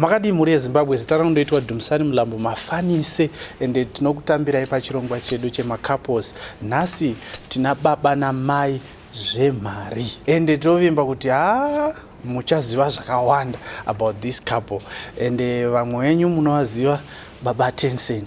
makadii mhuri yezimbabwe zita rano ndoitwa dumisani mulambo mafanise ende tinokutambirai pachirongwa chedu chemacouples nhasi tina baba namai zvemari ende tinovimba kuti haa muchaziva zvakawanda about this couple ende vamwe venyu munovaziva baba tensen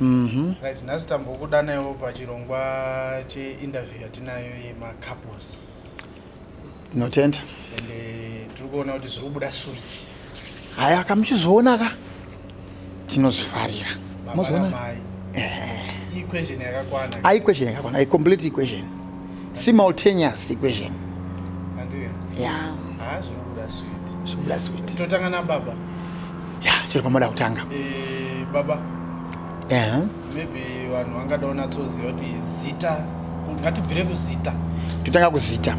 Mhm. Right, nhasi tambokudanaiwo pachirongwa cheinterview yatinayo yemacouples Ndinotenda. and eh, tiri kuona kuti zviri kubuda sweet Haya kamuchizoona ka. tinozvifarira mozoona equation yakakwana ah, equation yakakwana a complete equation simultaneous equation yeah ah zvobuda sweet zvobuda sweet totanga na baba yeah chiri pamoda kutanga eh baba eh uh -huh. maybe vanhu vangada unatsoziva kuti zita ngatibvire kuzita totanga kuzita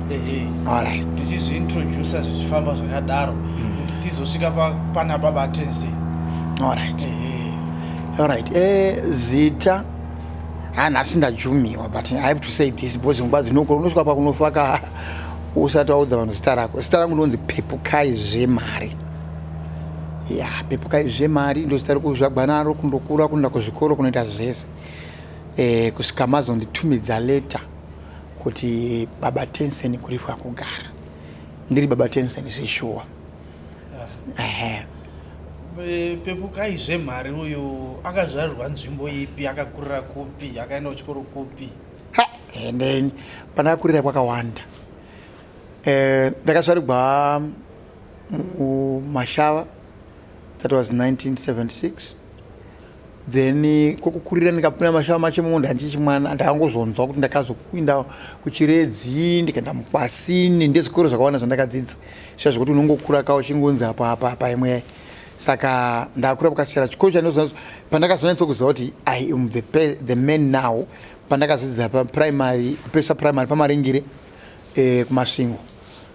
tichizviintroducer zvichifamba zvakadaro hmm. kuti tizosvika pana baba tense orit orit eh, zita hanhasi ndajumiwa but i have to say this because nguva dzinokora unosvika pakunofaka usati waudza vanhu zita rako zita rangu ndonzi pepukai zvemari ya pepukai zvemari ndozita rekuzvagwa naro kundokura kunoenda kuzvikoro kunoita zvese e, kusvika mazonditumidza leta kuti baba tensen kuripwa kugara ndiri baba tensen zveshuwa yes. ehe pepukai zvemari uyu akazvarirwa nzvimbo ipi akakurira kupi akaenda kuchikoro kupi ha and then pandakakurira kwakawanda eh, ndakazvarigwa mumashava that was 1976 then eh, kokukurira ndikapinda mashava macho imomo ndandichi mwana ndakangozonzwa kuti ndakazokuinda kuchiredzi ndikaenda mukwasini ndezvikoro zvakawanda zvandakadzidza sva zvekuti unongokura ka uchingonzi apa apa apa imwe saka ndakura pakasiyana chikoro chandozo pandakazonatsa kuziva kuti i am the, the man now pandakazodzidza paprimary pesa primary pamaringire eh, kumasvingo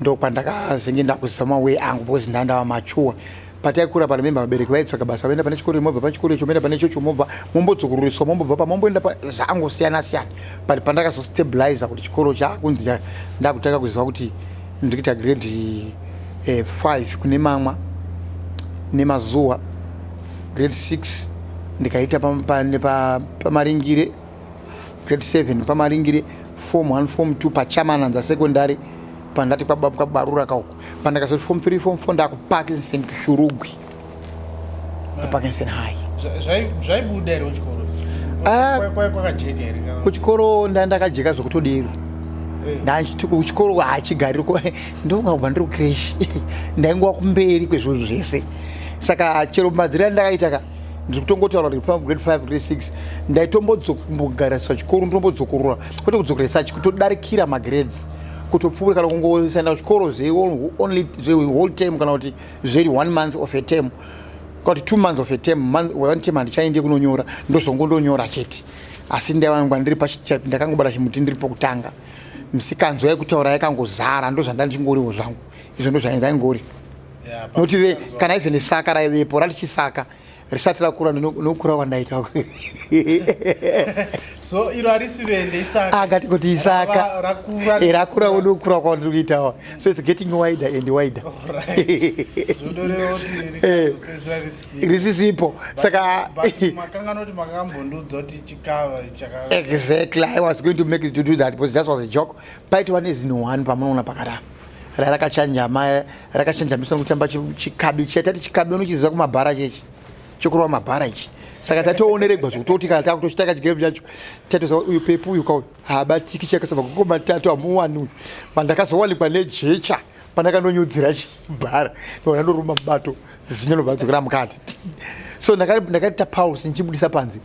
ndokwandakazenge ndakuzama way angu because ndandava machuwa pataikura pano memba vabereki vaitsvaga basa vaenda pane chikoro imobva pachikoro icho moenda pane chocho mobva mombodzokururiswa mombobva pamomboenda zvangosiyana siyana but pandakazostabiliza kuti chikoro chakunzi ndakutanga kuziva kuti ndikuita grade eh, five kune mamwa nemazuva grade six ndikaita pamaringire pa, pa, pa, grade 7 pamaringire form 1 form 2 pachamananza secondary pandati kwabarura ka uko pandakazoti form 3 form 4 ndakuparkinson kushurugwi paparkinson high zvaibuda here kuchikoro ah. kwakajeka here kuchikoro ndandakajeka zvekutodero eh. ndachiti kuchikoro hachigariri ndongakubva ndiri kucresh ndaingova kumberi kwezvinhu zvese saka chero madzira ndakaita ka ndiri kutongotaura kuti pava grade five grade six ndaitombodzombogarisa chikoro ndombodzokorora kwete kudzokera such kutodarikira magrades kutopfuura kana kungosaenda kuchikoro zveonly zvewhole term kana kuti zveri one month of a term kuti two months of a term month one term handichaende kunonyora ndozongo ndonyora chete asi ndaivanangwa ndiri pachitype ndakangobata chimuti ndiri pokutanga misikanzwa yekutaura yakangozara ndozvandandingoriwo zvangu izvo ndozvaingori nokuti ve kana even saka raivepo ralichisaka risati rakura nokura kwandaita so iro harisi vende isaka akati kuti isaka rakura eh, unokura kwandiri kuitawa so its getting wider and wider eh, risisipo saka exactly i was going to make it to do that because that was a joke paitova nezino one pamunoona pakadaro rarakachanjama rakachanjamiswa nekutamba chikabi chatati chikabi unochiziva kumabhara chechi chekurova mabhara ichi saka tatooneregwa zvekutoti kana takutochitaka chigame chacho tatoza uyu pepu uyu kauyu haabatiki chakasaba kuko matatu hamuwani uyu pandakazowanikwa nejecha pandakandonyudzira chibhara ndoona ndoruma mubato zinyo nobvadzokera mukati so ndakati tapausi ndichibudisa panzi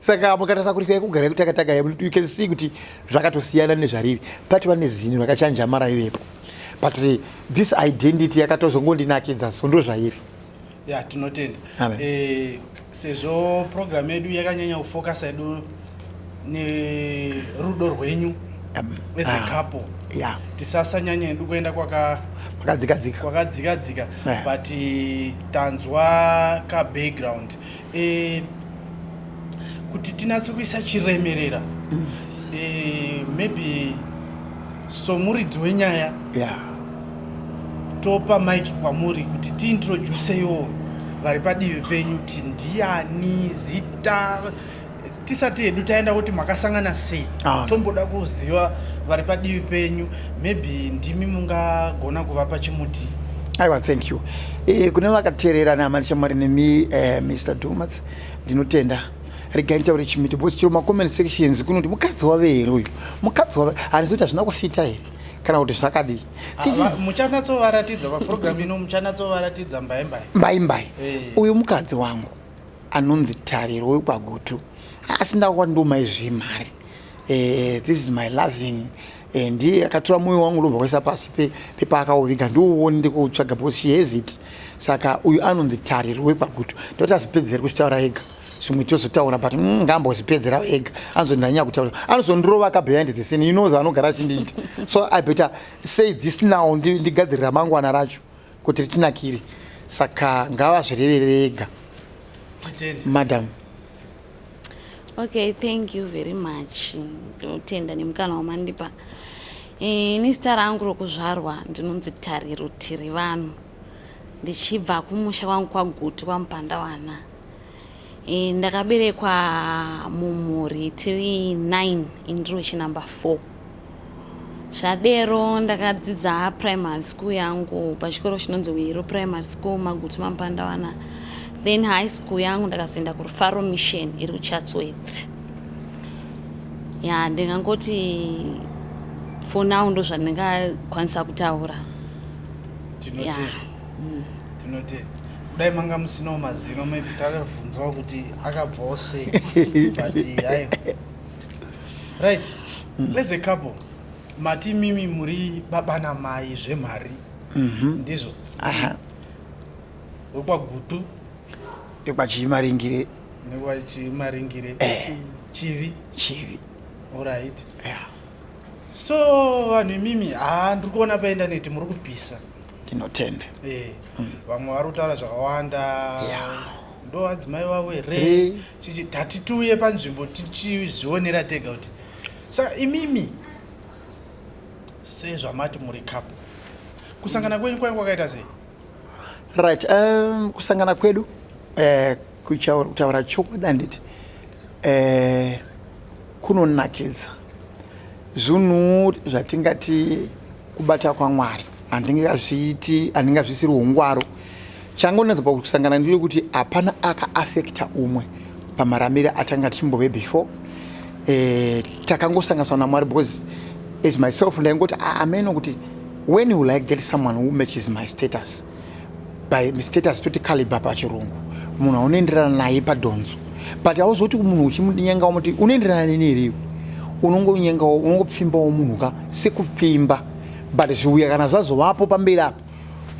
saka mukatarisa kuti kai kugara kutakataka you can see kuti zvakatosiyana nezvariri pati vane zinhu rakachanja mara ivepo but this identity yakatozongondinakidza so ndo zvairi ya tinotenda eh, sezvo program yedu yakanyanya kufokasa yedu nerudo rwenyu as a ah, couple yeah. tisasanyanya yedu kuenda kwakadzikadzika kwakadzikadzika yeah. but tanzwa kabackground e, kuti tinatse kuisa chiremerera mm. e, maybe somuridzi wenyaya yeah. topa mike kwamuri kuti tiintroduceyo vari padivi penyu kuti ndiani zita tisati hedu taenda kuti makasangana sei ah. tomboda kuziva vari padivi penyu maybe ndimi mungagona kuvapa chimuti aiwa thank you e, kune vakateerera nehama ndishamwari nemi uh, eh, mr domas ndinotenda regai nitaure chimiti bcause chiro macomment sections kunoti mukadzi wave here uyu mukadzi wave handizi kuti hazvina kufita here kana kuti zvakadii ah, muchanatsovaratidza paprogramu ino muchanatsovaratidza mbaimbai mbaimbai eh. uyu mukadzi wangu anonzi tariro wekwagutu asi ndawa ndomai zvemari eh, this is my loving eh, ndiye akatora moyo wangu ndobva kwaisa pasi pepaakauviga ndiuoni ndikutsvaga because she has it saka uyu anonzi tariro wekwagutu ndoti azvipedzere kuchitaura ega zvimwe tozotaura but mm, ngambozvipedzera ega anozondanyanya kutaura anozondirova ka behind the scene you know zvaanogara achindiita so i better say this now ndigadzirira mangwana racho kuti ritinakire saka ngavazvireverere ega madam okay thank you very much ndinotenda nemukana wamandipa eh, ini zita rangu rokuzvarwa ndinonzi tariro tiri vanhu ndichibva kumusha kwangu kwagutu kwamupandawana Eh, ndakaberekwa mumhuri tiri 9 indiri wechinumber 4 zvadero ndakadzidza primary school yangu pachikoro chinonzi wiro primary school magutu mampandawana then high school yangu ndakazoenda kurufaro mission iri kuchatsworth ya ndingangoti for now ndo zvandingakwanisa kutaura tinoti yeah. mm. tinoti mm. kudai manga musinawo mazino maybe takavhunzwawo kuti akabvawo sei but hayo right mm. as a couple mati mimi muri baba namai zvemari mm -hmm. ndizvo wekwagutu ekwachimaringire nekwachimaringire eh. chivi chivi orit yeah. so vanhu imimi haa ndiri kuona paenda neti muri kupisa ndinotenda eh, hmm. vamwe vari kutaura zvakawanda ndo adzimai vavo here chichi tati tiuye panzvimbo tichizvionera tega kuti saka imimi sezvamati muri kapo kusangana kwenyu kwainge kwakaita sei right um, kusangana kwedu uh, Kutaura chokwadi handiti eh, kunonakidza zvinhu zvatingati kubata kwamwari handingazviiti handingazvisiri ungwaro changu ndinatsa pakusangana ndiri kuti hapana akaafekta umwe pamaramire atanga tichimbove before eh, takangosanganiswa namwari because as myself ndaingoti ah, ameno kuti when will i get someone who matches my status by mistake asitoti caliber pachirungu munhu aunoenderana naye padhonzo but auzoti munhu uchimudinyenga umuti unoenderana neni here iwe unongonyenga unongopfimbawo munhu ka sekupfimba but zviuya kana zvazovapo pamberi apo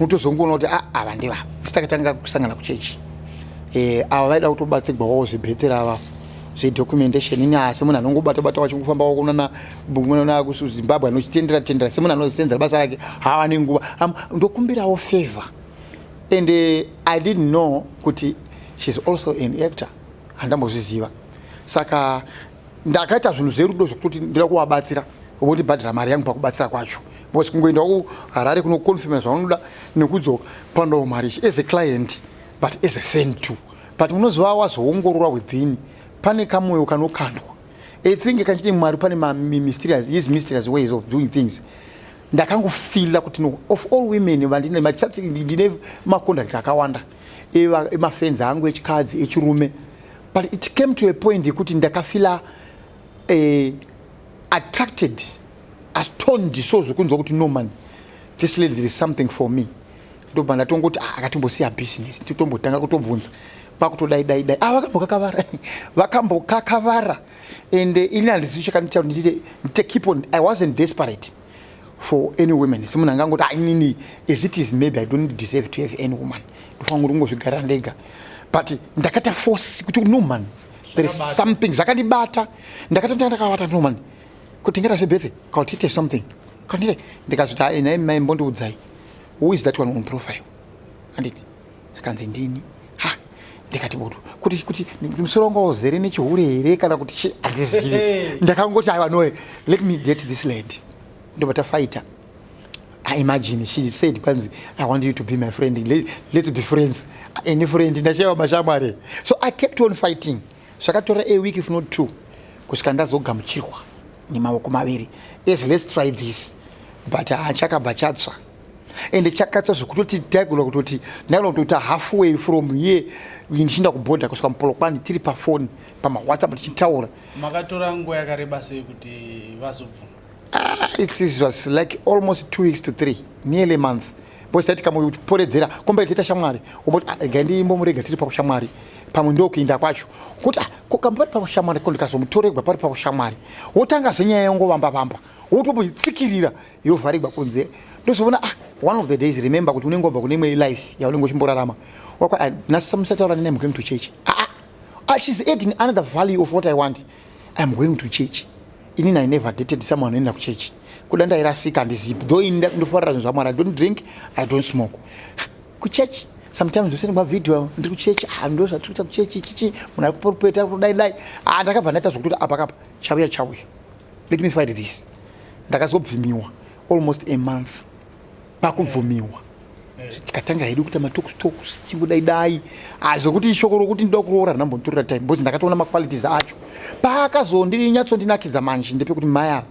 unotozongoona kuti ah, ava ndevavo sitakatanga kusangana kuchechi eh, ava vaida kutobatsirwawo zvebhetera ava zvedocumentation ini asi munhu anongobata bata wachingofamba wakuonana munoona kusu zimbabwe anochitendera tendera semunhu anozosenzera basa rake hawane nguva ndokumbirawo favor and uh, i didn't know kuti sheis also an actor handambozviziva saka ndakaita zvinhu zverudo zvekuti ndoda kuvabatsira vondibhadhira mari yangu pakubatsira kwacho because kungoenda kuharare kunoconfirma zvaunoda nekudzoka pandawo mari ichi as a client but as a fan too but unoziva wazoongorora wedzini pane kamoyo kanokandwa I think kachiti Mwari pane ma mysterious, his mysterious ways of doing things. Ndakangofila kuti no, of all women vandine machat ndine macontact akawanda eva emafenzi angu echikadzi echirume but it came to a point yekuti ndakafila eh, attracted astoned so zvekunzwa kuti no man this lady there is something for me ndobva ndatongoti ah, akatimbosiya business totombotanga kutobvunza kwakutodai dai dai ah, vakambokakavara vakambokakavara and eh, ini handizivi chakanitaura nditite ndite keep on i wasn't desperate for any women semunhu anga angoti ah, inini as it is maybe i don't deserve to have any woman ndofanira kuti ungozvigarira ndega but ndakata force kuti no man there is something zvakandibata ndakatotanga ndakavata no man kuti ndingata zvebethe kautite something kautite ndikazviti ah, nai mai mbondiudzai who is that one on profile anditi zvikanzi ndini ha ndikati bodo kuti kuti musoro wanga wazere nechihure here kana kuti chi handizivi ndakangoti aiwa noe let me get this lady ndobva tafaita I imagine she said kwanzi I want you to be my friend let, let's be friends any friend ndashaiwa mashamwari so I kept on fighting Zvakatora a week if not two kusvika ndazogamuchirwa nemaoko maviri as let's try this but haa chakabva chatsva ende chakatsva zvekutoti taigona kutoti ndaigona kutota halfway from here ndichiinda kubhodha kusvika mupolokwani tiri pafoni pamawhatsapp tichitaura makatora nguva yakareba sei kuti vazobvuma Ah, it was like almost two weeks to three, nearly a month. Bosi taiti kamuporedzera komba itaita shamwari, umboti ah, ga ndimbomurega tiri pakushamwari pamwe ndokuinda kwacho kuti ah, kokamba pari pakushamwari ko ndikazomutoregwa pari pakushamwari wotanga zvenyaya yongovamba vamba wotobutsikirira yovharegwa kunze ndozoona ah, one of the days remember kuti unenge wabva kune imwe life yaunenge uchimborarama wakwa ah, nasisamusataura nene am going to church ah, ah, ah, she's adding another value of what i want I am going to church. Inini I never dated someone anoenda kuchurch. Kuda ndairasika handizipi. Though ini ndofarira zvinhu zvaMwari. I don't drink, I don't smoke. Kuchurch sometimes usene mavideo ndiri kuchurch ah, ndo zvatiri kuita kuchurch chichi munhu ari kuporupeta ari kudai dai ah, ndakabva ndaita zvokuti kuti apakapa chauya chauya let me fight this ndakazobvimiwa almost a month pakubvumiwa tikatanga hedu kuita matokustokus chingodaidai ah, zvekuti ishoko rokuti ndida kuroora rinambonditorera time bcause ndakatoona maqualities acho paakazondiri nyatsondinakidza manje ndepekuti mai ava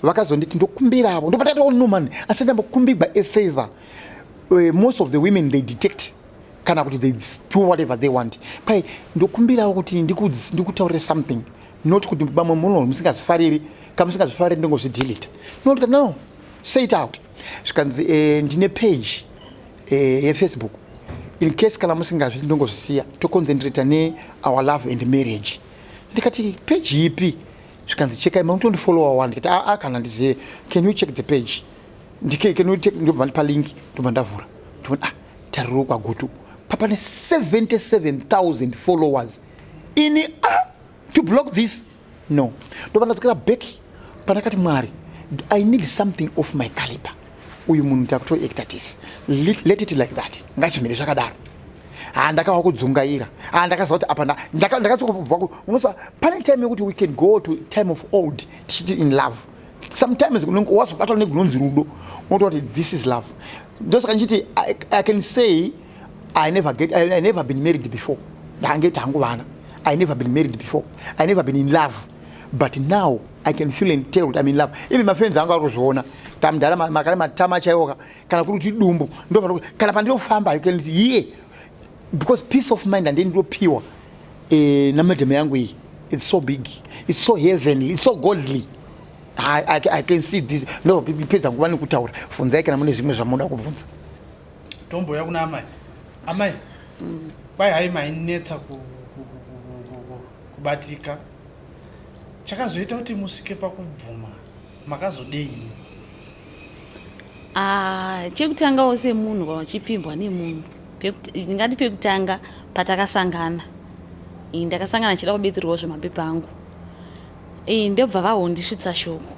vakazonditi ndokumbiravo ndopatatonoman asi ndambokumbigwa afavor uh, eh, most of the women they detect kana kuti they do whatever they want pai ndokumbirawo kuti ndikutaurire something not kuti vamwe muno musingazvifariri kamusingazvifariri ndingozvidilita not no say it out zvikanzi eh, ndine page eh, yefacebook in case kana musingazvi ndongozvisiya toconcentrata ne our love and marriage ndikati page ipi zvikanzi chekai makutondifollowa wani ndikati aa ah, ah, kana ndizive can you check the page ndobva ndipa link ndobva ndavhura ndivona ah tariro kwagutu papane 77000 followers ini ah to block this no ndobva ndadzokera back pandakati mwari i need something of my caliber uyu munhu takutoacta tese let it like that ngachimire zvakadaro ha ndakava kudzungaira ha ndakaziva kuti apa ndakatobva unoziva pane time yekuti we can go to time of old tichiti in love sometimes unenge wazobatwa negunonzi rudo unotoa kuti this is love ndosaka ndichiti i can say I never get I, I never been married before. Ndange tangu vana. I never been married before. I never been in love. But now I can feel and tell that I'm in love. Even my friends anga kuzviona. Tamdara makare matama chayoka kana kuri kuti dumbu ndo kana pandinofamba you can see yeah. Because peace of mind and then do pure. Eh na madam yangu iyi. It's so big. It's so heavenly. It's so godly. I, I, I can see this. No, pedza nguva nekutaura. Funzai kana mune zvimwe zvamunoda kubvunza. Tombouya kuna amai. Amai. Mm. Kwai hai mainetsa ku, ku, ku, ku, ku, ku, kubatika. Chakazoita kuti musvike pakubvuma makazodei? Ah, chekutangawo semunhu kana uchipfimbwa nemunhu ndingati pekutanga patakasangana ndakasangana ndichida kubetserwawo zvemapepa angu Iyi ndobva vahondisvitsa shoko.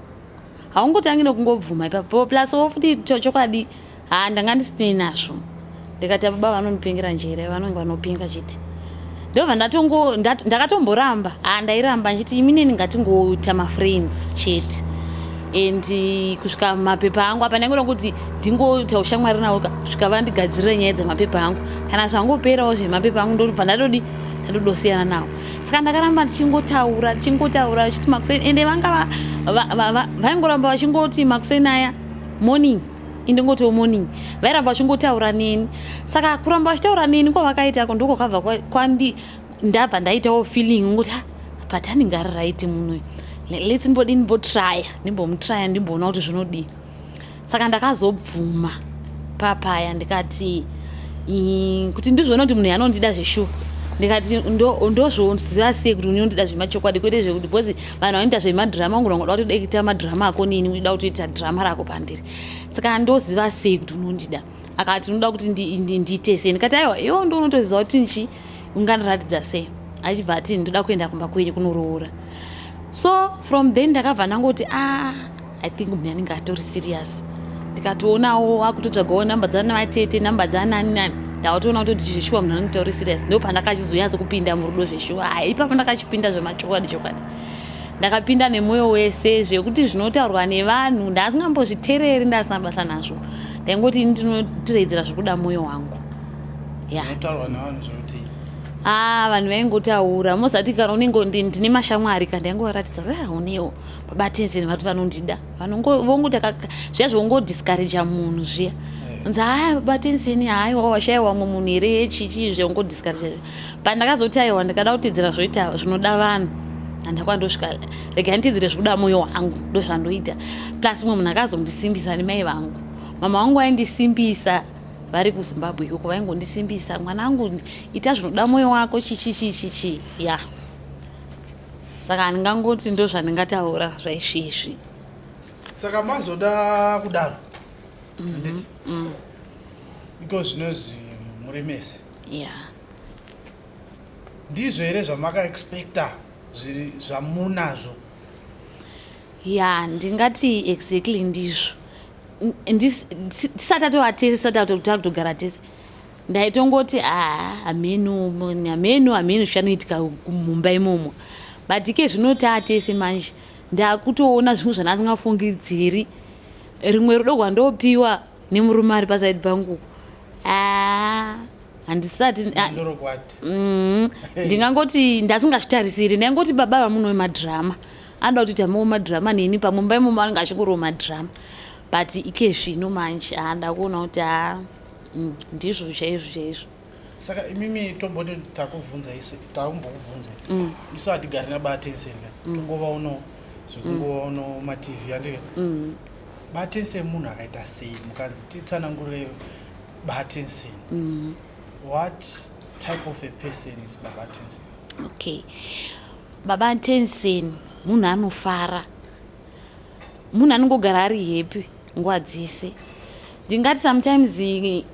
Haungotangi nokungobvuma ipapo plus wo futi chokwadi ha ndanga ndisinei nazvo. Ndikati ababa vanondipengera njere vanonge vanopenga chete. Ndobva ndatongo ndat, ndakatomboramba ha ndairamba ndichiti imi neni ngatingoita mafriends chete and kusvika mapepa angu apa ndaingona kuti ndingoita ushamwari navo kusvika vandigadzirira nyaya dzemapepa angu kana zvangoperawo zvemapepa angu ndobva ndatodi ndatodosiyana navo saka ndakaramba ndichingotaura ndichingotaura vachiti makuseni ende vanga vaingoramba vachingoti makuseni aya morning indingotiwo morning vairamba vachingotaura neni saka kuramba vachitaura neni kwavakaitako ndiko kava kwandi ndabva ndaitawo feeling ngokuti but anenge ari right munoyu lets mbodini mbotraya ndimbomutraya ndimboona kuti zvinodii saka ndakazobvuma papaya ndikati kuti ndizvona kuti munhu yanondida zveshuwa ndikati ndozvoziva sei kuti unondida zvemachokwadi kwete zvekuti because vanhu vanoita zvemadhirama ungu nongoda kuti udakuita madhirama ako nini uida kuti uita dhirama rako pandiri saka ndoziva sei kuti unondida akati unoda kuti ndiite sei ndikati aiwa iwo ndo unotoziva kuti nchi ungandiratidza sei achibva ati ndoda kuenda kumba kwenyu kunoroora so from then ndakabva ndangoti a ah, i think munhu anenge atori serious ndikatoonawo wakutotsvagawo number dzana vatete number dzanani nani ndawatoona kutoti zveshuwa munhu anenge tauri serious ndo pandakachizonyatso kupinda murudo zveshuwa hai ipapo ndakachipinda zvemachokwadi chokwadi ndakapinda nemwoyo wese zvekuti zvinotaurwa nevanhu ndaasingambozvitereri ndaasina basa nazvo ndaingoti ini ndinotiredzera zvekuda mwoyo wangu ya haa ah, vanhu vaingotaura mozati kana unenge ndine mashamwari ka ndaingovaratidza kuti ah, unewo Batezi nevatu vanondida vongoti zviya zvongodiscouraja munhu zviya eh. nzi haya batenzeni haiwa washaiwa wamwe munhu here chichii zvongodiscouraja but ndakazoti aiwa ndikada kutedzera zvoita zvinoda vanhu andakwa ndosvika rega nditedzere zvikuda mwoyo wangu ndozvandoita plus mumwe munhu akazondisimbisa nemai vangu mama wangu aindisimbisa vari kuzimbabwe ikoko vaingondisimbisa mwana wangu ita zvinoda mwoyo wako chichichichichi ya yeah. saka handingangoti ndo zvandingataura zvaisviizvi saka mazoda kudaro mhm, handiti mm. because zvinozi muri mese yeah. ndizvo here zvamakaexpecta zviri zvamunazvo ya ndingati exactly ndizvo tisati atovatese tisati atotogara tese ndaitongoti haa hamhenu hamhenu hamhenu zvichanoitika mumba imomo but ike zvino taatese manje ndakutoona zvimwe zvandasingafungidziri rimwe rudo rwandopiwa nemurume ari pasaidi pangu haa handisati mm-hmm. ndingangoti ndasingazvitarisiri ndaingoti baba vamunowe madhirama anoda kuti tamawo madhirama neni pamumba imomo anenge achingorowo madhirama but ike zvino manje haa ndakuona kuti haa Mm, ndizvo chaizvo chaizvo. Saka imimi tomboto takuvhunza isu taumbokuvhunza. Mm. Isu hatigari na batense nga. Mm. Tongova uno zvekungova mm. uno ma TV andike. Mm. Batense munhu akaita sei mukanzi titsanangure batense. Mm. What type of a person is baba tense? Okay. Baba tense munhu anofara. munhu anongogara ari happy nguva dzese ndingati sometimes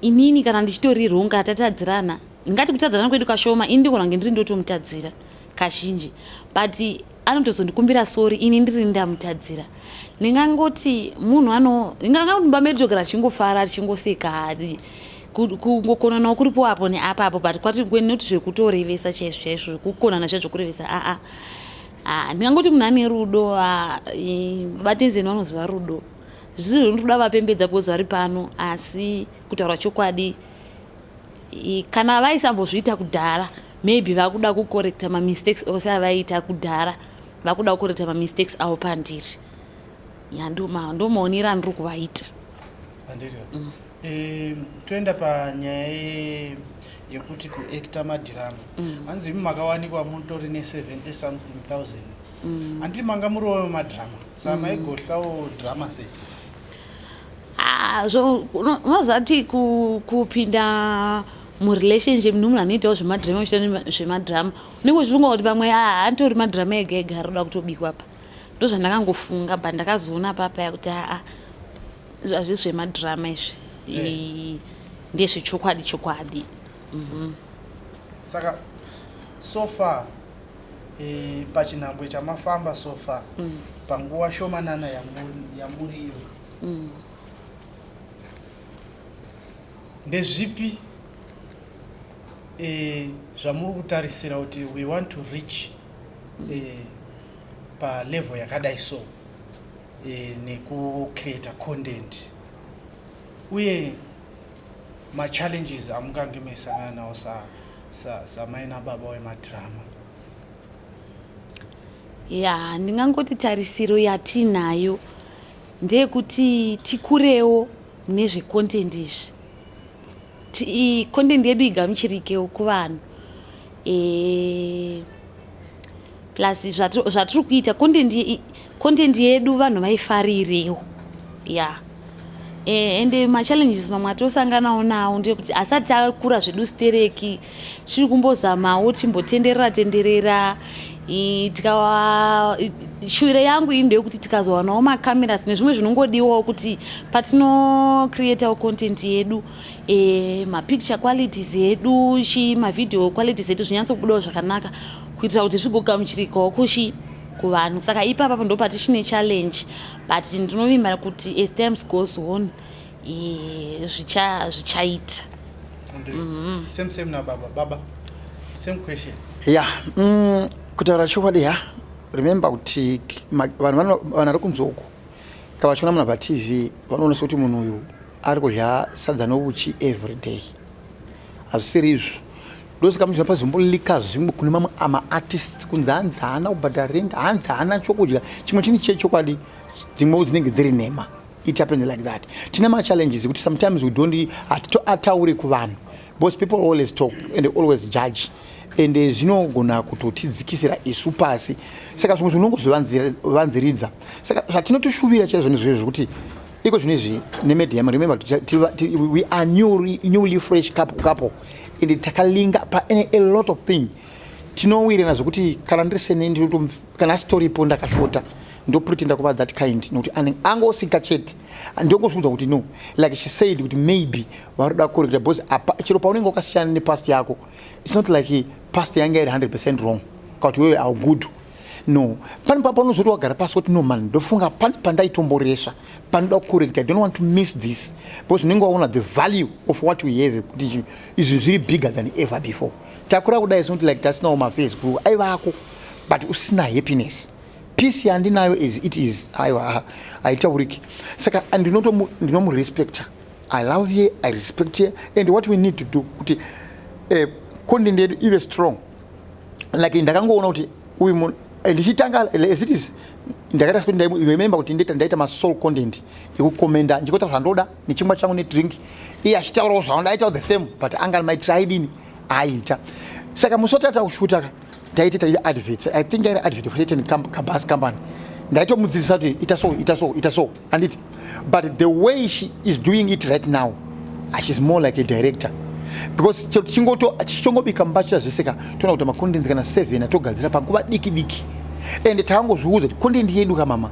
inini kana ndichitori wrong kana tatadzirana ndingati kutadzirana kwedu kashoma ini ndigona kunge ndiri ndotomutadzira kazhinji but anotozondikumbira sori ini ndiri ndamutadzira ndingangoti munhu ano ndingangoti mumba medu togara tichingofara tichingoseka hadi kungokonanawo kuripo apo neapa apo but kwati kwenoti zvekutorevesa chaizvo chaizvo zvekukonana zviya zvekurevesa aa ah, ah. Ah, ndingangoti munhu ane rudo ah, batenzeni vanoziva rudo zvisi zvinotoda vapembedza because vari pano asi kutaura chokwadi kana vaisambozviita kudhara maybe vakuda kukorekta mamistakes ose avaiita kudhara vakuda kukorekta mamistakes avo pandiri ya ndomaonera andiri kuvaita mm. Eh, toenda panyaya ye- yekuti kuekta madhiramu Mm. hanzi imi makawanikwa mutori ne70 something thousand Mm. handiti manga muriwo madhirama saka Mm. maigohlawo dhirama sei Ah, zvo uno- unoziva kuti ku- kupinda murelationship nemunhu anoitawo zvemadhirama uchita nema- zvemadhirama unenge uchifunga kuti pamwe ah, anditori madhirama ega ega ari kuda kutobikwa apa ndozvandakangofunga but ndakazoona papaya kuti aa Hazvisi zvemadrama izvi. Eh. Ndezve chokwadi chokwadi. Mhm. Saka so far eh, pachinhambwe chamafamba so far mm. panguva shomanana yamuriyo mm. ndezvipi eh, zvamuri kutarisira kuti we want to reach mm. eh, palevel yakadai so nekucreator content uye machallenges amungange meisangana nawo samai nababa wemadhirama ya ndingangoti tarisiro yatiinayo ndeyekuti tikurewo nezvecontent izvi Ti content yedu igamuchirikewo kuvanhu. Eh plus zvatiri kuita content content yedu vanhu vaifarirewo. Yeah. Eh and machallenges mamwe atosanganawo nawo ndeyekuti asati akura zvedu stereki tiri kumbozamawo timbotenderera tenderera tikawa shuviro yangu iyi ndeyekuti tikazowanawo macameras nezvimwe zvinongodiwawo kuti patinocreatawo content yedu e, mapicture qualities edu chi mavideo qualities edu zvinyatsobudawo zvakanaka kuitira kuti zvigogamuchirikawo kushi kuvanhu saka ipapapo ndo patichine challenge but ndinovimba kuti as times goes on zvichaita zvicha mm-hmm. same same na baba baba same question ya yeah. mm, kutaura chokwadi ya remember kuti vanhu vanari kunzi uku ka vachiona munhu patv vanoonesa kuti munhu uyu ari kudya sadza novuchi every day hazvisiri izvo ndosaka muzvina pazomboliika zvimwe kune mamwe amaartist kunzi hanzi haana kubhadhara rent hanzi haana chokudya chimwe chini chechokwadi dzimwewo dzinenge dziri nhema It happens like that. Tina ma challenges kuti sometimes we don't ataure kuvanhu because people always talk and they always judge and eh, zvinogona kutotidzikisira isu pasi saka zvimwe zvinongozvivanziridza saka zvatinotoshuvira chaizvo nezvizvo zvekuti iko zvino izvi nemedium remember we are new, newly fresh couple, couple and takalinga pane a lot of thing tinowirirana zvekuti kana ndiri sene ndinoto kana asitoripo ndakashota ndopretenda kuva that kind nokuti angosika chete ndongozviudza kuti no like she said kuti maybe vari kuda kuregera because chero paunenge wakasiyana nepast yako its not like past yanga iri 100 percent wrong kakuti wewe au good no pane papa unozoti wagara pasi kuti no man ndofunga pane pandaitomboresva panoda kukorekta i don't want to miss this because unenge waona the value of what we have kuti izvi zviri bigger than ever before Takura kudai is not like tasinawo mafees guru aivako but usina happiness peace yandinayo as it is aiwa haitauriki saka ndinomurespecta i love ye i respect ye and what we need to do kuti eh, content yedu ive strong like ndakangoona kuti uyu munhu eh, ndichitanga as it is ndakaita sekuti remember kuti ndaita masoul content yekukomenda ndichikoita zvandoda nechimwa changu nedrink iye achitaurawo zvavo ndaitawo the same but anga maitira aidini aiita saka musi watata kushuta ka ndaiti taita adverts i think airi advert for certain bus company ndaitomudzidzisa kuti ita so ita so ita so anditi but the way she is doing it right now ah, she's more like a director because chero tichingoto tichitongobika mbatya zvese ka toona kuti makondenzi kana seven atogadzira panguva diki diki ende tangozviudza kuti kondendi yedu ka mama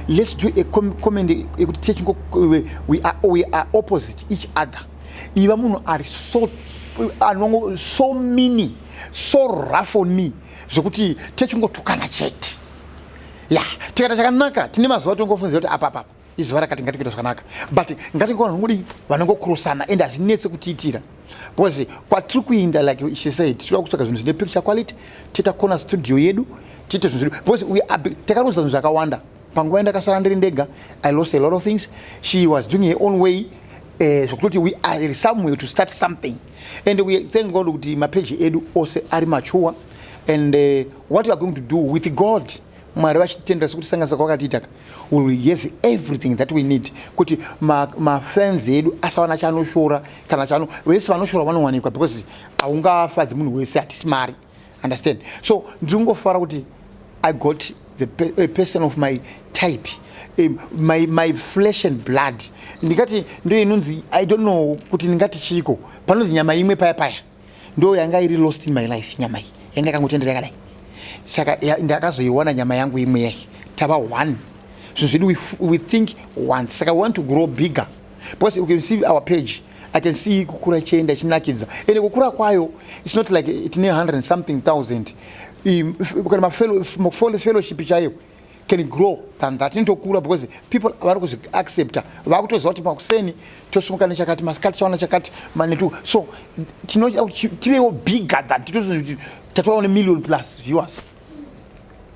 let's do a com comment yekuti techingo we, we, are, we are opposite each other iva munhu ari so anongo so mini so rough on me zvekuti techingotukana chete ya yeah. tikaita chakanaka tine mazuva tongofunzira kuti apa papa izuva rakati ngatingoita zvakanaka but ngatingoona nongodi vanongokurosana ende hazvinetse kutiitira Because kwatiri kuinda like she said tinoda kutsvaga zvinhu zvine picture quality tiita kona studio yedu tiite zvinhu zvedu because we are takaruza zvinhu zvakawanda panguva yandakasara ndiri ndega i lost a lot of things she was doing her own way eh, zvokutoti uh, we are somewhere to start something and we thank god kuti mapeji edu ose ari machuwa and uh, what we are going to do with god mwari vachititendera sekuti sanganisa kwakatiitaka will yes everything that we need kuti mafans ma edu asawana chanoshora kana chano vese vanoshora vanowanikwa because haungafadzi munhu wese hatisi mari understand so ndingofara kuti i got the pe a person of my type um, my, my flesh and blood ndingati ndo inonzi i don't know kuti ndingati chiiko panonzi nyama imwe paya paya ndo yanga iri lost in my life nyama iyi yanga yakangotendera yakadai saka ndakazoiwana nyama yangu imwe yai tava one zvinhu zvedu we, we think once saka we want to grow bigger because you can see our page i can see kukura ichienda ichinakidza ende kukura kwayo its not like tine 100 something thousand kana mafellowship chaiyo can grow than that inotokura because people vari kuzviaccepta vakutoziva kuti makuseni tosumuka nechakati masikati chaona chakati manetu so tinoda kuti tivewo bigger than titoziva tatovawo nemillion plus viewers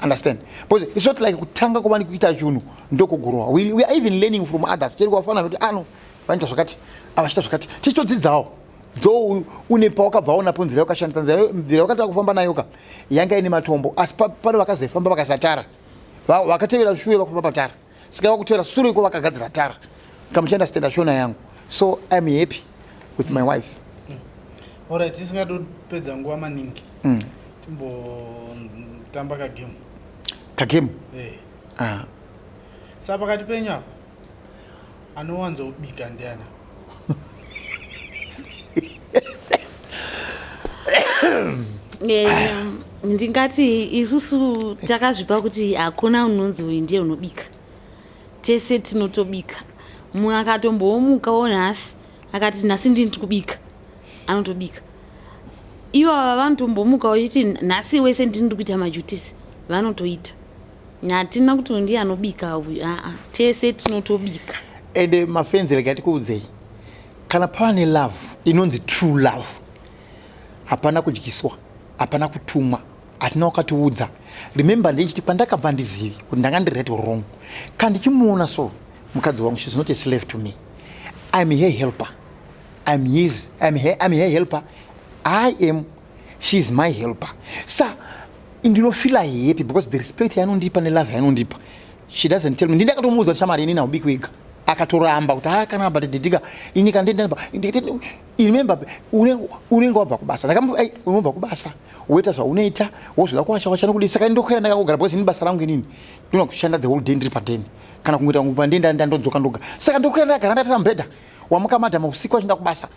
understand because it's not like kutanga kuva nekuita chunhu ndokugurowa we are even learning from others cheri kwafanana kuti ano ah, vanoita zvakati avachita zvakati tichitodzidzawo though une pawakabva waonapo nzira yakashandisa nzira yakatanga kufamba nayo ka yanga ine matombo asi pane vakazoifamba vakasatara vakatevera shure vakufamba patara saka vakutevera sure iko vakagadzira tara kamuchanda stenda shona yangu so iam happy with my wife orit tisingatopedza nguva maningi mm. timbotamba kagame kagame eh. ah. sa pakati penyu apa Anowanzo bika ndiana. Eh, ndingati isusu takazvipa kuti hakuna unonzi uyu ndiye unobika tese tinotobika mumwe akatombowomuka wo nhasi akati nhasi ndini tikubika anotobika ivo ava vanotombomuka vachiti nhasi wese ndini ndikuita majutisi vanotoita hatina kuti ndiye anobika uyu aa tese tinotobika ende mafenzi rega tikuudzei kana pane love inonzi true love hapana kudyiswa hapana kutumwa hatina wakatiudza remember ndeichiti pandakabva ndizivi kuti ndanga ndiri right or wrong ka ndichimuona so mukadzi wangu she's not a slave to me iam her helper iam his iam her, iam her helper i am she is my helper sa ndinofila happy because the respect yaanondipa nelove yaanondipa she doesn't tell me ndini akatomuudza kuti shamari ini naubiki wega akatoramba kuti haa kana but didika ini kandendaba remember unenge wabva kubasa unobva kubasa woita zvaunoita wozvida kuwasha washa nokudii saka ndokwera ndakangogara because ini basa rangu inini ndona kushanda the whole day ndiri padeni kana kungoita kungu pandei ndandodzoka ndoga saka ndokwera ndakagara ndati sambhedha wamuka madhama usiku achinda kubasa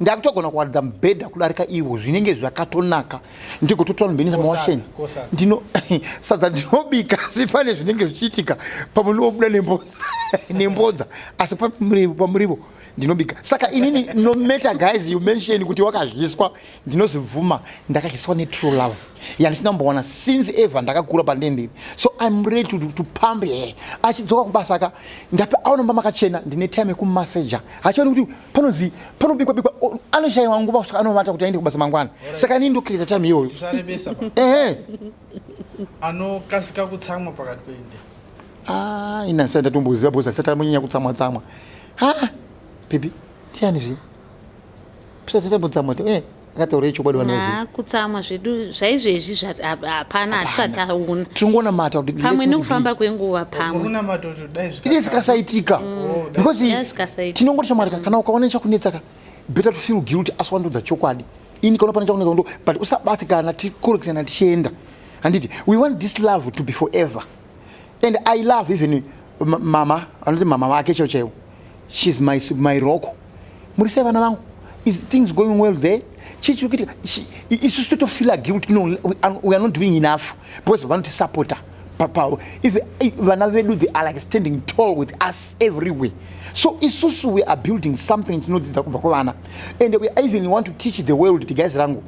ndakutogona kuwaridza mubhedha kudarika ivo zvinenge zvakatonaka ndigototora mubhedha samawasheni ndino sadza ndinobika asi pane zvinenge zvichiitika pamwe ndinobuda nembodza asi pamurivo ndinobika saka inini no matter guys you mention kuti wakadyiswa ndinozvibvuma ndakadyiswa netrue love yandisina kumbowana since ever ndakakura pandendiri so im ready to, to pump her achidzoka kubasa ka ndape aonomba makachena ndine time yekumassager hachioni kuti panonzi panobikwa bikwa anoshaiwa nguva kusvika anovata kuti aende kubasa mangwana saka inini ndocreata time iyoyo ehe anokasika kutsamwa pakati pende ah, ina ndisati ndatomboziva bhozi asati amonyanya kutsamwa tsamwa ha pepi tiani zve pisati tambotsamwa ti eh. akataura ichokwadi vanoziva kutsamwa zvedu zvaizvezvi hapana hatisati aona tiri kuona mata kuti pamwe nekufamba kwenguva pamwe ine zikasaitika mm. because tinongoti shamwari kana ukaona chakunetsaka better to feel guilty asi wandodza chokwadi ini kaona pane chakunetsa ndo but usabatikana tikoreketana tichienda handiti we want this love to be forever and i love even mama anoti mama vake cheo chaiwo shes my, my roko muri sei vana vangu is things going well there chii chiri kuitika isusu totofeela guilt no we are not doing enough because vanotisapota papawo if eh, vana vedu they are like standing tall with us everywhere so isusu we are building something tinodzidza kubva kwavana and we even want to teach the world tigaizi rangu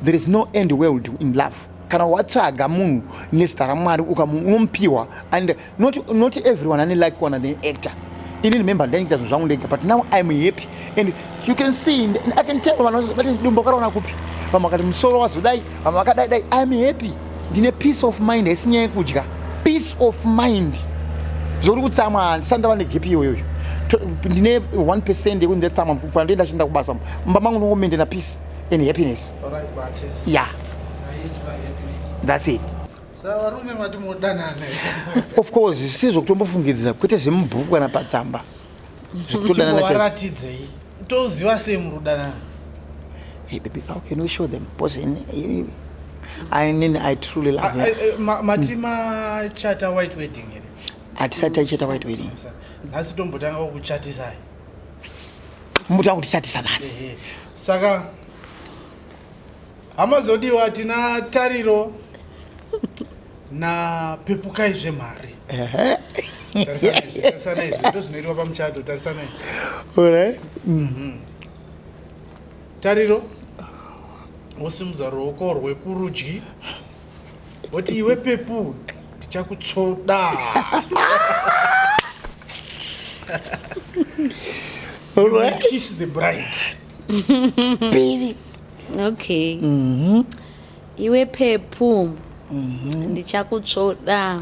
there is no end world in love kana watsvaga munhu nezita ramwari ukamunomupiwa and not, not everyone ane like kuwana the actor ini remember ndainita zvinhu zvangu ndega but now iam happy and you can see and i can tell vanhu vati dumbo karaona kupi vamwe vakati musoro wazodai vamwe vakadai dai iam happy ndine peace of mind haisi nyaya yekudya peace of mind zvouri kutsamwa handisati ndava negepi iyoyoyo ndine 1 percent yekunzi ndatsamwa kwandoenda chienda kubasa mumba mangu ndongomendena peace and happiness ya thats it savarume mati modanana of course si zvokutombofungidzira kwete zvemubhuku kana patsamba zvekutodananaaratidzei toziva sei muri kudanana hey baby how can we show them because in, in, I, in, I truly love ah, eh, eh, mati machata white wedding here hatisati taichata white wedding nhasi tombotanga kukuchatisai muta kuti chatisa nhasi saka hama zodiwa hatina tariro na pepukai zvemari tarisanai zvito zvinoitwa pamuchato tarisanai mhm. tariro wosimudza ruoko rwekurudyi But iwe pepu ndichakutsoda. All right. Kiss the bride. Baby. Okay. Mhm. Mm iwe pepu. Mhm. Mm ndichakutsvoda.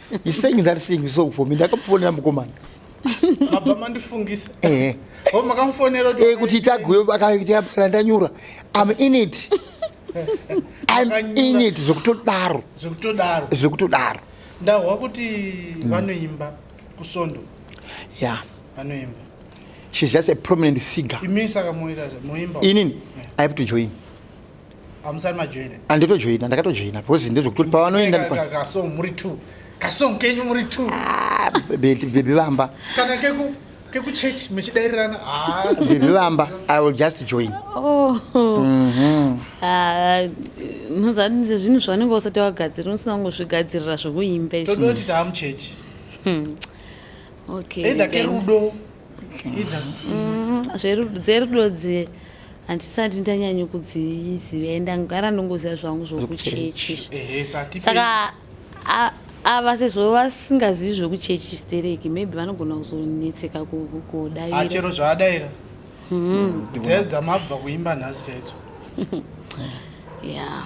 He's saying that thing so for me. Ndakamufonera mukomana. Mabva mandifungisa. Eh. Oh makamufonera kuti eh kuti tagwe akaita ndanyura. I'm in it. I'm in it zvekutodaro. Zvekutodaro. Zvekutodaro. Ndahwa kuti mm. vanoimba kusondo. Yeah. Vanoimba. She's just a prominent figure. Imini saka moita moimba. Inini. I have to join. amusari majoina anditojoina ndakatojoina because ndezvekuti pavanoenda kasong muri two kasong kenyu muri two ah, bebi vamba kana keku kekuchurch mechidairirana ah. bebi vamba i will just join oh. mhm. ah, mazani nje zvinhu zvaunenge usati wagadzirira usina kungozvigadzirira zvekuimba todoti taamuchechi hmm. okay either kerudo mm, dzerudo dze handisati ndanyanyo kudziziva e ndangara ndongoziva zvangu zvokuchechi saka ava sezvo vasingazivi zvokuchechi stereki maybe vanogona kuzonetseka kudairachero ah, zvaadaira hmm. dzedza mabva kuimba nhasi chaidzo ya yeah.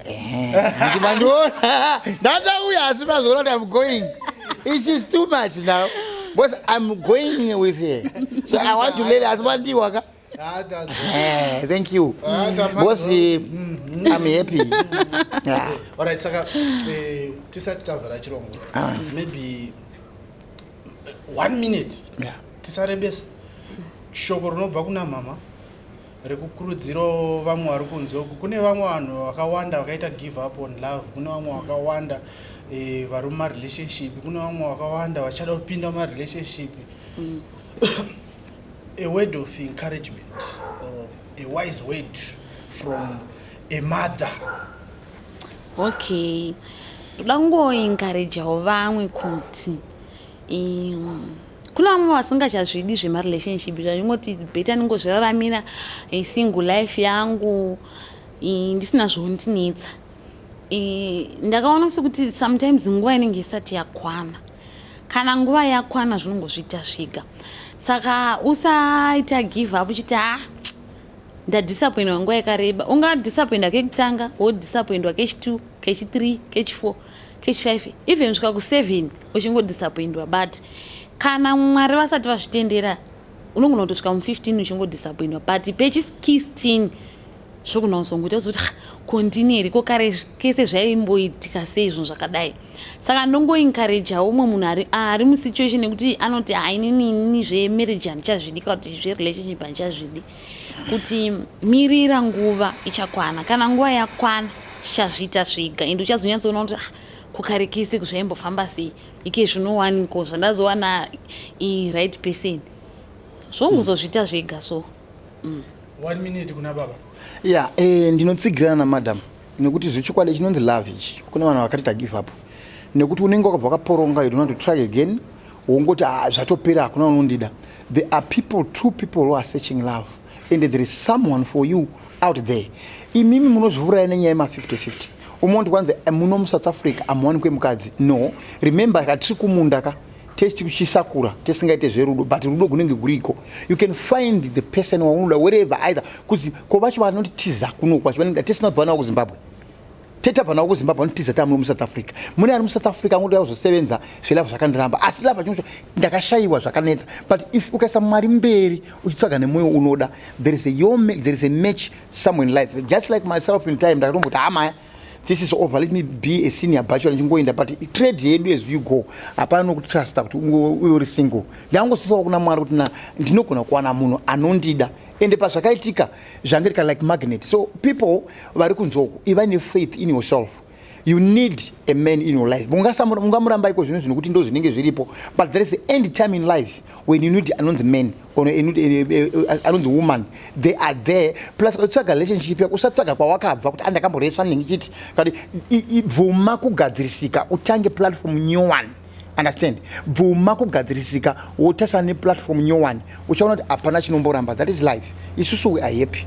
ndimandiona ndatauya asi mazoona kuti am going it is too much now because i'm going with her so i want to lele asi mandiwa ka Eh, thank you because eh, mm-hmm. i'm happy Yeah. alright saka eh, tisati tavhara chirongo Ah. maybe eh, one minute Yeah. tisarebesa shoko rinobva kuna mama rekukurudzirawo vamwe vari kunze uku kune vamwe vanhu vakawanda vakaita give up on love kune vamwe vakawanda e, vari mumarelationship kune vamwe vakawanda vachada kupinda mumarelationship mm. a word of encouragement or a wise word from a mother okay toda kungoencourageawo vamwe kuti um, kune vamwe vasingachazvidi zvemarelationship zvanyingoti beta ningozviraramira eh, single life yangu eh, ndisina zvondinetsa eh, ndakaona sekuti sometimes nguva inenge isati yakwana kana nguva yakwana zvinongozviita zvega saka usaita give up uchiti ah ndadisappoindwa nguva yakareba ungadisappoindwa kekutanga wodisappoindwa kechi2 kechi3 kechi4 Kechi5 even kusvika ku7 uchingodisappoindwa but kana mwari vasati vazvitendera unogona kutosvika mu15 uchingodisappoindwa but pechi16 zvogona kuzongoita kuzoti kondini here ko kare kese zvaimboitika sei zvinhu zvakadai saka ndongoencourageawo umwe munhu ari ari musituation yekuti anoti hainini ini zvemarriage handichazvidi ka kuti zverelationship handichazvidi kuti mirira nguva ichakwana kana nguva yakwana chichazviita zviga and uchazonyatsoona kuti ah, kukarikisi kuzvaimbofamba sei ike zvinowaniko zvandazowana iright person zvonguzozviita zviga so mm. one minute kuna baba ya yeah, eh, ndinotsigirana namadam nekuti zvechokwadi chinonzi love ichi kune vanhu vakati tagive up nekuti unenge wakabva wakaporonga you donot try again wongoti ah, zvatopera hakuna unondida there are people two people who are searching love and there is someone for you out there imimi munozviuraya nenyaya yema 5050 umwe undi kwanzi eh, muno musouth africa amuwanikwe mukadzi no remember katiri kumunda ka test kuchisakura tisingaite zverudo but rudo kunenge kuriko you can find the person waunoda wherever either kuzi ko vacho vanotiza kuno kwacho vanenge tisina bvana wako zimbabwe teta bvana wako zimbabwe vanotiza tamuno musouth africa mune ari musouth africa angoda kuzosevenza zvelava zvakandiramba asi lava chinocho ndakashayiwa zvakanetsa but if ukaisa mari mberi uchitsvaga nemwoyo unoda there is a, your, there is a match somewhere in life just like myself in time ndakatomboti hamaya this is over let me be a senior bachelor ndichingoenda but trade yedu as you go hapana nokutrusta kuti uve uri single ndangosisawo kuna mwari kuti na ndinogona kuwana munhu anondida ende pazvakaitika zvange rika like magnet so people vari kunzwa uku iva nefaith in yourself you need a man in your life mungamuramba iko zvinhu zvinokuti ndo zvinenge zviripo but there is end time in life when you need anonzi man ono e, e, e, anonzi woman they are there plus ukatsvaga relationship yako usatsvaga kwawakabva kuti andakamboreswa ah, nengichiti kati bvuma kugadzirisika utange platform new one understand bvuma kugadzirisika wotasana neplatform new one uchaona kuti hapana chinomboramba that is life isusu we are happy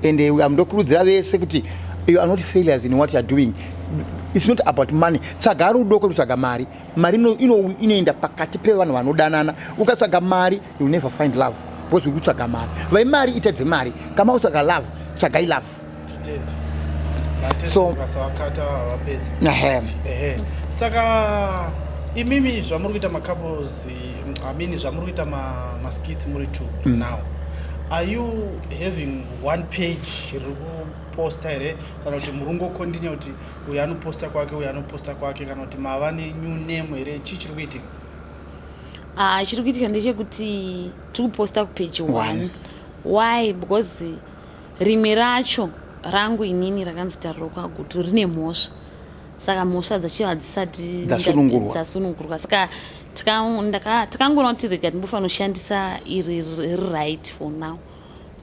and uh, ndokurudzira vese kuti you are not failures in what youare doing it's not about money tsvaga rudo kwekutsvaga mari mari ino ino inoenda pakati pevanhu vanodanana ukatsvaga mari you never find love because uri kutsvaga mari vai mari ita dzemari kama utsvaga love tsvagai love so saka imimi zvamuri kuita macouples i mean zvamuri kuita maskits muri two mm. now are you having one page riri kuposta here kana kuti muri ungokondinya kuti uyu anoposta kwake uyu anoposta kwake kana kuti mava nenew name here chii chiri kuitika ah, chiri kuitika ndechekuti tiri kuposta kupage one why because rimwe racho rangu inini rakanzi tariro kwagutu rine mhosva saka mhosva dzacho hadzisati dzasunungurwa saka takangoona kuti rega ndimbofanira kushandisa iri riright for now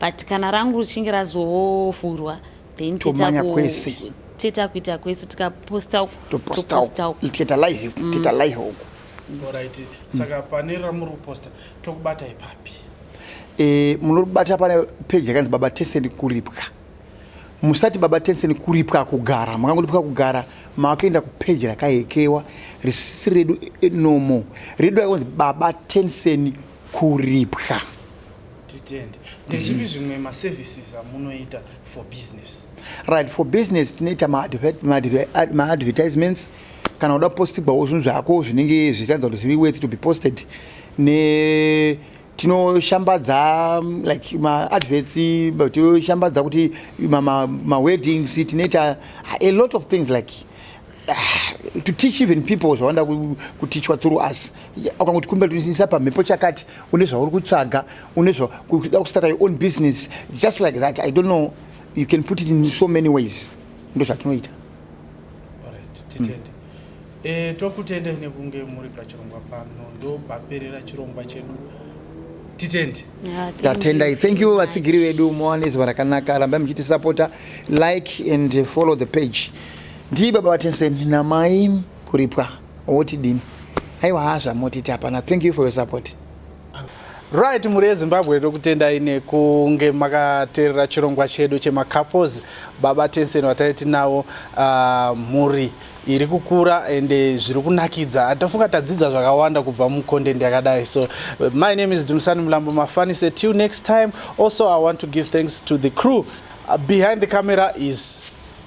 but kana rangu richinge razovhurwa then tomanya kwese teta kuita kwese tikaposta uku toposta uku tikaita live uku mm. tikaita live uku orit saka pane ramuri kuposta tokubata ipapi eh, munobata pane peji yakanzi baba tenseni kuripwa musati baba tenseni kuripwa kugara makangoripwa kugara makaenda kupeji rakaekewa risisi redu eh, nomo redu rakanzi baba tenseni kuripwa Titende. Ndezvipi zvimwe maservices amunoita for business? Right, for business tinoita maadvertisements kana uda postigwawo zvinhu zvako zvinenge zvichiratidza kuti zviri worth to be posted ne tinoshambadza mm, like maadverts tinoshambadza kuti maweddings tinoita a lot of things like Ah, to teach even people zvawanda kutichwa through us ukanguti kumbira tinisa pamhepo chakati une zvauri kutsvaga une zvakuda kustarta your own business just like that i don't know you can put it in so many ways ndo zvatinoita hmm. eh, tokutende nekunge muri pachirongwa pano ndopaperera chirongwa chedu titende tatendai thank you vatsigiri vedu mowane zuva rakanaka rambai muchitisapota like and follow the page Ndii baba vaTenseni namai kuripwa wotidini? Aiwa haa zvamotiti hapana. Thank you for your support. Right mhuri yeZimbabwe tokutendai nekunge makateerera chirongwa chedu chemacouples baba Tensen vatai tinavo uh, mhuri iri kukura ende zviri kunakidza atofunga tadzidza zvakawanda kubva mucontent yakadai so my name is Dumsani Mlambo Mafanise till next time also I want to give thanks to the crew uh, behind the camera is